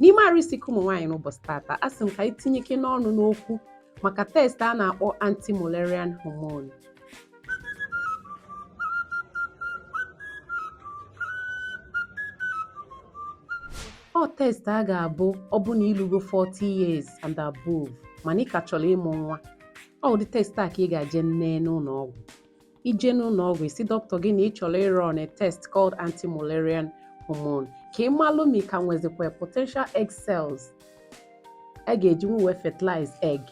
n'ime arụ isi ike ụmụ nwaanyị n'ụbọchị tata a sị m ka anyị tinyekene ọnụ n'okwu maka test a na-akpọ anti-mullerian hormone ọ test a ga-abụ ọ bụ na i lugo 40 years and above mana ị ka chọlọ ịmụ nwa ọ ụdị test a ka ị ga-eje nee n'ụlọ ọgwụ i jee n'ụnọ ọgwụ ị sị dọkịta gị na ị chọlọ ịrun a test called anti-Mullerian hormone ka ị malụ ma ị ka nwezikwa potential egg cells a ga-eji nwe wee fertilize egg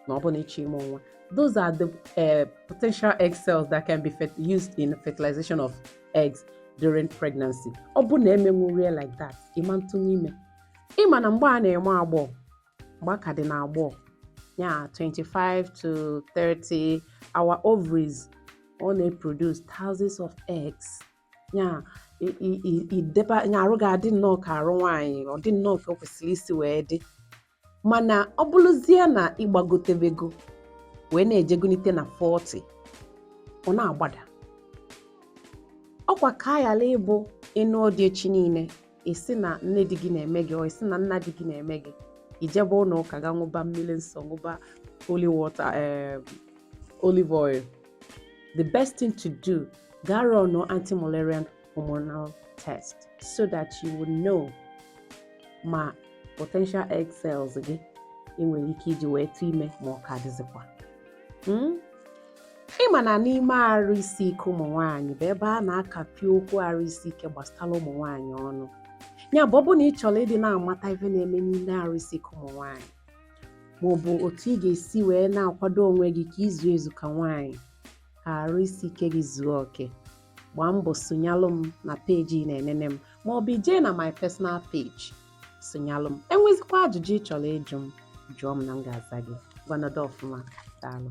ma ọ bụ na ị chọọ ịmụ nwa those are the uh, potential egg cells that can be used in fertilization of eggs during pregnancy ọ bụ na emenwurọ ya like that ị ma atụnwu ime ị ma na mgbe a na-eme agbọghọ mgbe a ka dị n'agbọghọ ya 25 to 30 our ovaries ọ na-eproduce thousands of eggs ya ideba ya arụ ga-adị nnọọ ka arụ nwaanyị ọ dị nnọọ ka o kwesịrị isi wee dị mana ọ bụrụzie na ị gbagotebego wee na-ejegonite na 40 ọ na-agbada ọkwa ka a yala ịbụ ị nọdụ echi niile ị sị na nne di gị na-eme gị ị sị na nna di gị na-eme gị i jebe ụnọ ụka gaa ṅụba mmili nsọ ṅụba holy water eh, olive oil the best thing to do gaa run anti-Mullerian hormonal test so that you will know ma potential egg cells gị ị nwere ike iji wee tụọ ime ma ọ ka dịzikwa hmm? ị ma na n'ime arụ isi ike ụmụ nwaanyị bụ ebe a na-akapị okwu arụ isi ike gbasara ụmụ nwaanyị ọnụ ya bụ ọ bụ na ị chọlọ ịdị na-amata ife na-eme n'ime arụ isi ike ụmụ nwaanyị maọbụ otu ị ga-esi wee na-akwado onwe gị ka i zuo ezu ka nwaanyị ka arụ isi ike gị zuo oke gbaa mbọ sonyalụ m na peji ị na-enene m ma ọ bụ i jee na my personal page sonyalụ m enwezikwa ajụjụ ị chọrọ ịjụ m jụọ m na m ga-aza gị ngwa nọdụ ọfụma daalụ